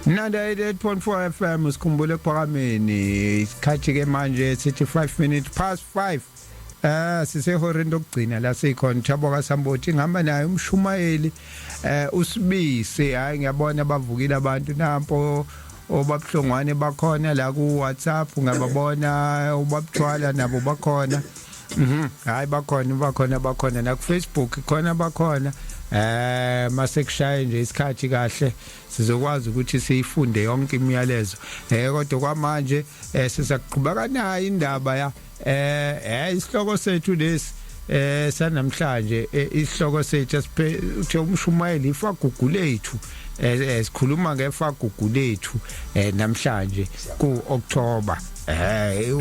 98.4 FM sikhumbule ekuphakameni isikhathi ke manje sithi 5 minutes past 5 Eh sisehoreni lokugcina la sikhona Thabo kaSamboti ngihamba naye umshumayeli eh usibisi hayi ngiyabona bavukile abantu nampo obabuhlongwane bakhona la ku WhatsApp ngababona ubabuthwala nabo bakhona Mhm. Hayi bakhona bakhona bakhona na ku Facebook khona bakhona eh masekushaye nje isikhathi kahle sizokwazi ukuthi siyifunde yonke imiyalezo eh kodwa kwamanje eh sizakuqhubeka nayo indaba ya eh eh isihloko sethu lesi eh sanamhlanje eh, isihloko sethu esiphethe umshumayeli ifagugu lethu eh, eh, sikhuluma ngefagugu lethu eh, namhlanje ku October Hey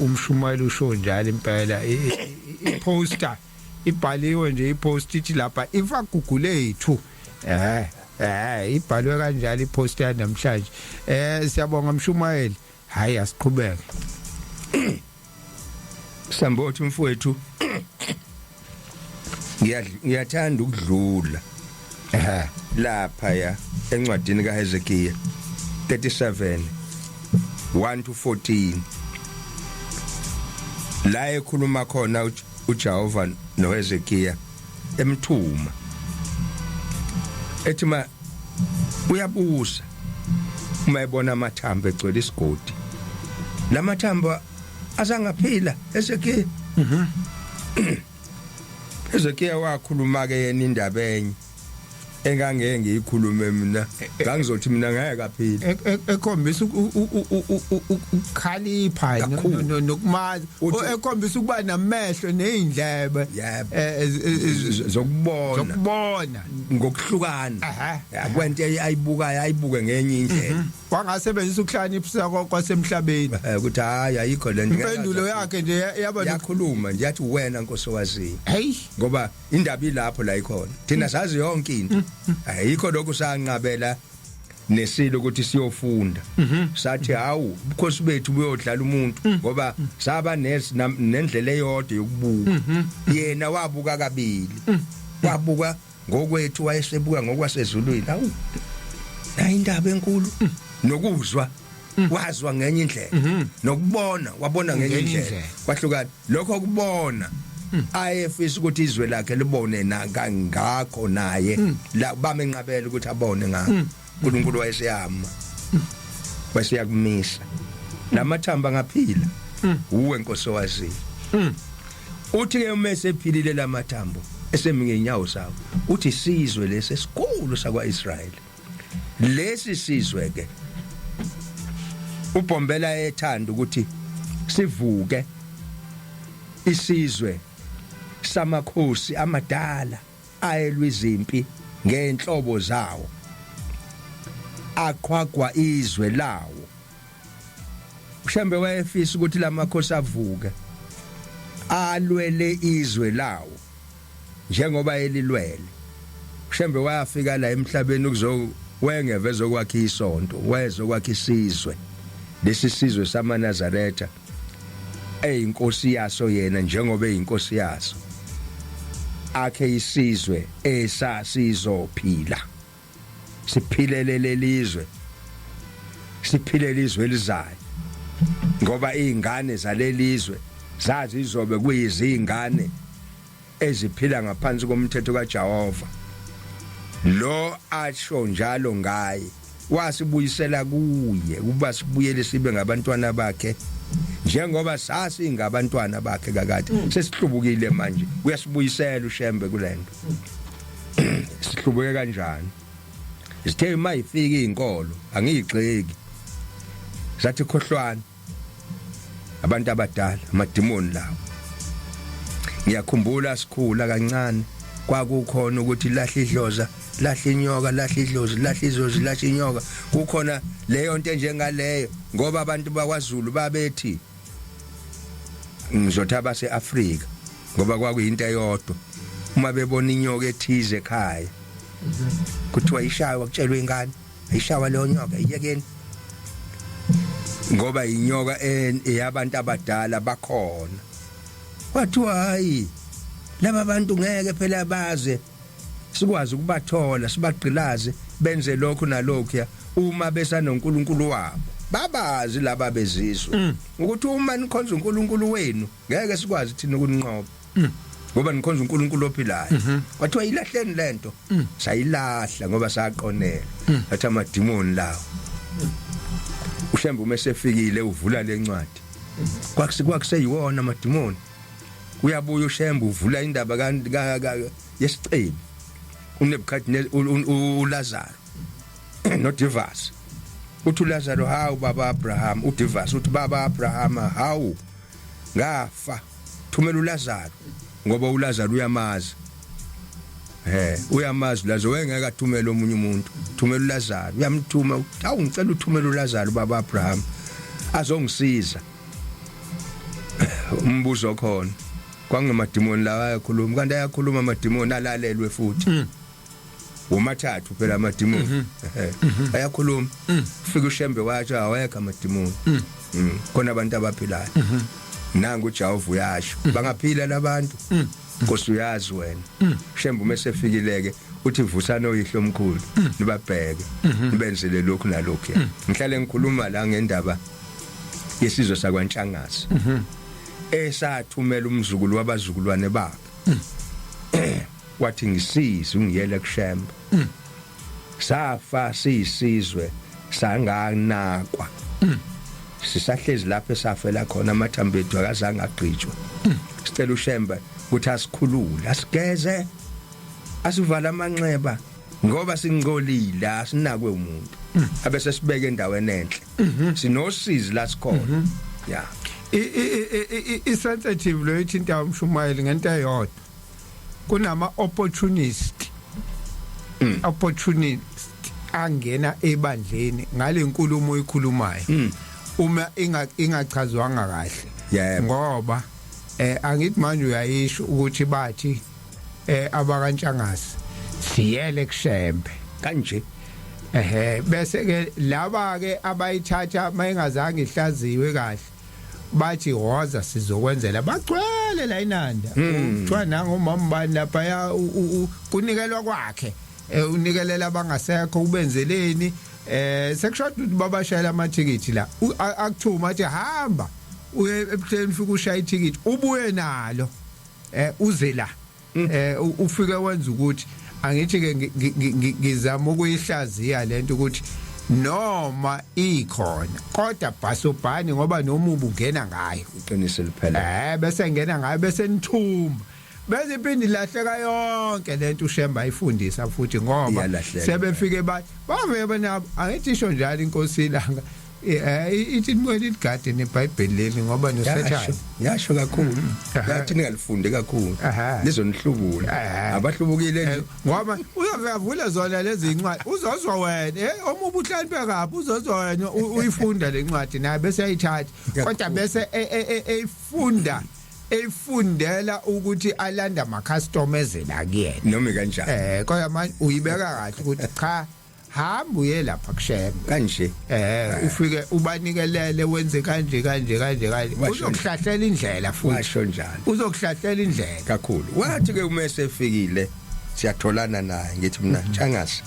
umshumayeli usho njalo impela iposter ibhaliwe nje ipost ithi lapha ifagugulethu ethu eh eh ibhalwe kanjalo ipost ya namhlanje eh siyabonga mshumayeli hayi asiqhubeke sambothi mfowethu ngiyathanda ukudlula ehe lapha ya encwadini kaHezekiya 37 1 to 14 la ekhuluma khona uJehova noHezekiya emthuma ethi ma uyabusa uma ebona amathambo egcwele isigodi lamathambo asangaphila esekhaya mhm ezekiya wakhuluma ke yena indaba enye engangeke ngiyikhulume mina e, e, ngangizothi mina ngeke kaphila e, ekhombisa ukukhalipha nokumazi ekhombisa ukuba namehlo nezindlebe zokubona zokubona ngokuhlukana kwento ayibukayo ayibuke ngenye indlela mhm. wangasebenzisa ukuhlaniphisa kwasemhlabeni eh, ukuthi hayi ayikho le nto impendulo yakhe nje yaba yakhuluma nje yathi wena nkosi owaziyo hey ngoba indaba ilapho la ikhona thina mm. sazi yonke into mm, mm. ayikho lokhu sanqabela nesilo ukuthi siyofunda mhm. sathi hawu ubukhosi bethu buyodlala umuntu mm. ngoba mm. saba nendlela eyodwa yokubuka mhm. yena wabuka kabili mm. wabuka ngokwethu wayesebuka ngokwasezulwini awu nayindaba enkulu mm. nokuzwa mm. wazwa ngenye indlela mm-hmm. nokubona wabona ngenye indlela kwahlukana lokho kubona mm. ayefisa ukuthi izwe lakhe libone na kangakho naye la bamenqabela ukuthi abone ngakho uNkulunkulu wayeseyama wayeseyakumisa lamathamba ngaphila mm. uwe nkosi wazi mm. uthi ke uma esephilile lamathambo esemi ngenyawo sawo uthi sizwe lesi esikhulu sakwaIsrael lesi sizwe ke ubhombela ethanda ukuthi sivuke isizwe samakhosi amadala ayelwa izimpi ngenhlobo zawo, aqhwagwa izwe lawo. UShembe wayefisa ukuthi lamakhosi avuke alwele izwe lawo njengoba elilwele. UShembe wayafika la emhlabeni ukuzo wengeve ezokwakha isonto, wayezokwakha isizwe. Lesi sizwe samaNazaretha eyinkosi yaso yena njengoba eyinkosi yaso akhe isizwe esasizophila siphilele lelizwe siphilele izwe elizayo ngoba izingane zalelizwe zazi izobe kuyizingane eziphila ngaphansi komthetho kaJehova lo asho njalo ngaye wasibuyisela kuye ukuba sibuyele sibe ngabantwana bakhe njengoba sasingabantwana bakhe kakade mm. sesihlubukile manje uyasibuyisela ushembe kulento sihlubuke kanjani sithe uma ifika izinkolo angiyigxeki zathi khohlwana abantu abadala amadimoni lawo ngiyakhumbula sikhula kancane kwakukhona ukuthi lahle idloza lahle inyoka lahle idlozi lahle izozi lahle inyoka kukhona leyo nto enjengaleyo ngoba abantu bakwaZulu babethi ngizothi abaseAfrika ngoba kwakuyinto eyodwa uma bebona inyoka ethize ekhaya kuthiwa ishawa kutshelwe ingane Ishawa leyo nyoka iyekeni. Ngoba inyoka eyabantu abadala bakhona. Kwathiwa hayi laba bantu ngeke phela baze sikwazi ukubathola sibagqilaze benze lokho nalokho ya uma besanoNkulunkulu wabo babazi laba bezizwe mm. ukuthi uma nikhonza uNkulunkulu wenu ngeke sikwazi thina ukuninqoba mm. ngoba nikhonza uNkulunkulu ophilayo mhm. kwathiwa ilahleni lento mm. sayilahla ngoba saqonela mm. athi amadimoni lawo ushembe uma esefikile uvula lencwadi kwakusi kwakuseyiwona amadimoni uyabuya ushembe uvula indaba ka yesicebi uNebukadnezar uLazaro noDivas uthi uLazaro hawu baba Abraham uDivas uthi baba Abraham hawu ngafa thumela uLazaro ngoba uLazaro uyamazi eh uyamazi Lazaro wengeke athumele omunye umuntu thumela uLazaro uyamthuma awu ngicela uthumela uLazaro baba Abraham azongisiza umbuzo khona kwangemadimoni lawa ayakhuluma kanti ayakhuluma amadimoni alalelwe futhi mm. womathathu phela amadimoni mhm. mhm. ayakhuluma mm. fika ushembe watsho awekho amadimoni mm. mm. khona abantu abaphilayo mhm. nangu uJehova uyasho bangaphila labantu Nkosi uyazi wena shembe uma sefikileke uthi vusana oyihlo omkhulu nibabheke nibenzele lokhu nalokhu ngihlale ngikhuluma la ngendaba yesizwe sakwantshangazi esathumela umzukulu wabazukulwane bakhe wathi ngisize ungiyele kushemba mm. safa siyisizwe sanganakwa mm. sisahlezi lapho esafela khona amathambo ethu akazange agqitshwe mm. sicela ushemba ukuthi asikhulule asigeze asivala amanxeba ngoba singcolile asinakwe umuntu mm. abese sibeke endaweni enhle mm -hmm. sinosizi la sikhona mm -hmm. yeah i sensitive lo ithinta umshumayeli ngento eyodwa kunama opportunist mm. opportunist angena ebandleni ngalenkulumo oyikhulumayo mm. uma inga ingachazwanga kahle yeah. ngoba eh angithi manje uyayisho ukuthi bathi eh abakantshangasi siyele kushembe kanje ehe bese ke laba ke abayithatha mayingazange ihlaziwe kahle bathi hoza sizokwenzela bagcwele la inanda hmm. kuthiwa nangomama bani lapha ya kunikelwa kwakhe e, unikelela abangasekho ubenzeleni eh sekushoda ukuthi babashayela amathikithi la akuthuma athi hamba uye ebuhleni fika ushaya ithikithi ubuye nalo eh uze la mm. eh ufike wenza ukuthi angithi ke ngizama ukuyihlaziya lento ukuthi noma ikhona kodwa bhasobhani ngoba noma ubungena ngayo iqiniso liphela eh bese ngena ngayo bese nithuma bese iphindi lahleka yonke lento ushemba ayifundisa futhi ngoba sebefike ba bavebe nabo angithi isho njalo inkosi ilanga Eh, ithi nibuye ligade nebhayibheli leli ngoba nosathane yasho kakhulu mm. yathi ningalifunde kakhulu lizonihlubula abahlubukile nje eh, ngoba uyavula zona lezi incwadi uzozwa wena eh omubu uhlaniphe kabi uzozwa wena uyifunda le ncwadi naye bese ayithatha kodwa bese e, e, e, eyifunda efundela ukuthi alanda ama customer ezela kuyena noma kanjani eh kodwa manje uyibeka kahle ukuthi cha hamba uye lapha kushembe kanje eh ufike ubanikelele wenze kanje kanje kanje kanje uzokuhlahlela indlela futhi washo njalo uzokuhlahlela indlela kakhulu wathi ke uma esefikile siyatholana naye ngithi mina mhm. changasa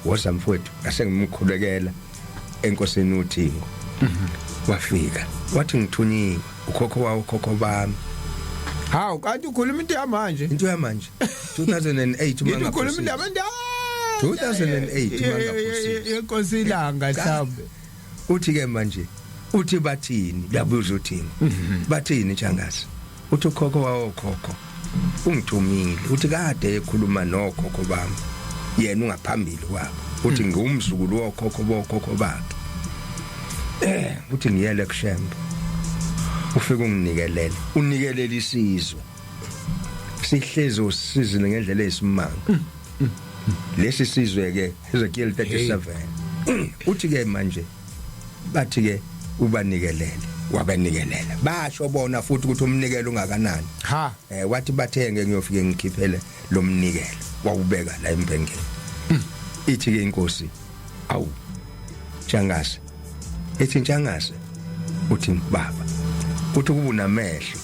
woza mfowethu ngase ngimkhulekela enkosini uthingo mhm. wafika wathi ngithunyiwe ukhokho wawo khokho bami hawu kanti ukhuluma into yamanje into yamanje 2008 uma ngakhuluma indaba nda 2008 yenkosi ilanga mhlawumbe uthi ke manje uthi bathini uyabuza uthini mhm. bathini changazi uthi ukhokho wawo khokho ungithumile uthi kade ekhuluma nokhokho bami yena ungaphambili kwabo uthi mhm. ngiwumzukulu wokhokho bokhokho bakhe eh uthi ngiyele kushembe ufike unginikelele unikelele isizwe sihlezi usizile ngendlela eyisimanga mm, mm, mm. lesi sizwe ke Ezekiel 37 uthi ke manje bathi ke ubanikelele wabanikelela basho bona futhi ukuthi umnikelo ungakanani ha eh wathi bathenge ngiyofike ngikhiphele lo mnikelo wawubeka la embhengeni ithi ke inkosi awu jangase ethi ntshangase uthi baba uthi kuba unamehlo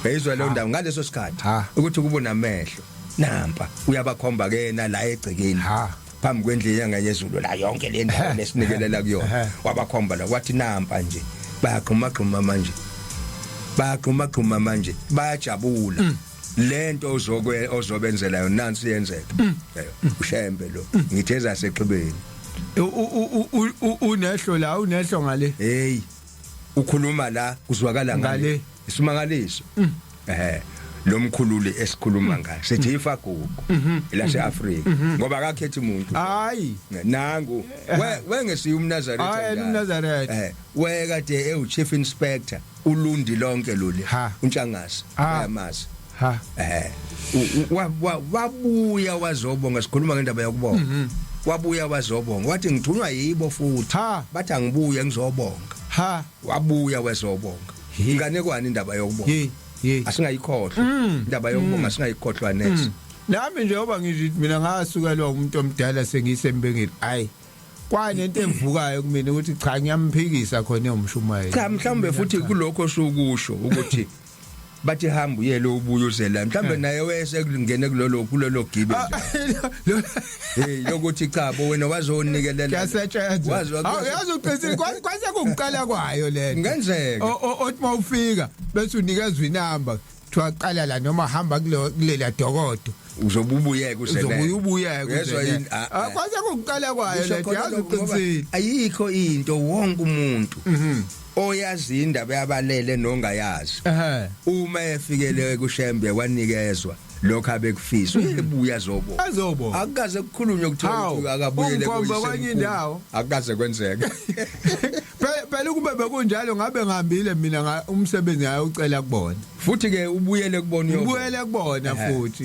yayizwa leyo ndawo ngaleso sikhathi ukuthi kuba unamehlo nampa uyabakhomba ke yena la egcekeni phambi kwendlu yenyanga yezulu la yonke le ndawo lesinikelela kuyona wabakhomba la kwathi nampa nje bayagxuma gxuma manje bayagxuma gxuma manje bayajabula mm. lento ozokwe ozobenzela yona nansi yenzeka mm. ushembe lo mm. ngitheza sexhibeni unehlo la unehlo ngale hey ukhuluma la kuzwakala ngale isimangaliso mm. ehe lo mkhululi esikhuluma ngaye sithi ifagugu mhm. elase Africa mhm. ngoba akakhethi umuntu hayi nangu wengesiyo umnazareth hayi umnazareth eh weka de ewu chief inspector ulundi lonke loli ha untshangase uyamazi ha eh wabuya wazobonga sikhuluma ngendaba yakubonga mhm. wabuya wazobonga wathi ngithunywa yibo futhi bathi angibuye ngizobonga ha wabuya wezobonga ingane kwani indaba yokubonga asingayikhohlwa mm. indaba yokubonga mm. asingayikhohlwa next mm. nami njengoba ngithi mina ngasukelwa umuntu omdala sengiyisembengeli ayi kwani into evukayo kumina ukuthi cha ngiyamphikisa khona eyomshumayeli cha mhlawumbe futhi kulokho sokusho ukuthi bathi hamba uyele ubuye uzela mhlawumbe eh. naye wese kulingene kulolo kulolo gibe ah, hey lokuthi cha bo wena wazonikelela kuyasetshenzwa awuyazi uqinisile kwase kungiqala kwayo lento ngenzeka othi mawufika bese unikezwa inamba kuthiwa qala la noma hamba kulo- kulela dokodo uzobe ubuyeke uzobuye usebenza ubuyeke Yezwa uze- yini? Ah, Ah, ah. kwanza kokuqala kwayo Kusho lento khona yazi lokho ngoba uqinisile ayikho into wonke umuntu Mhm. oyazi indaba yabalele nongayazi ehe uma efikele kushembe wanikezwa lokho abekufisa uyebuya zobo azobo akukaze kukhulunywe kuthiwa Hawu, uthi akabuyele ungikhomba kwenye indawo. akukaze kwenzeke Phela phela ukube bekunjalo ngabe ngihambile mina nga- umsebenzi ngayocela kubona. Futhi ke ubuyele kubona uyobona. Ubuyele kubona Ehhe. futhi.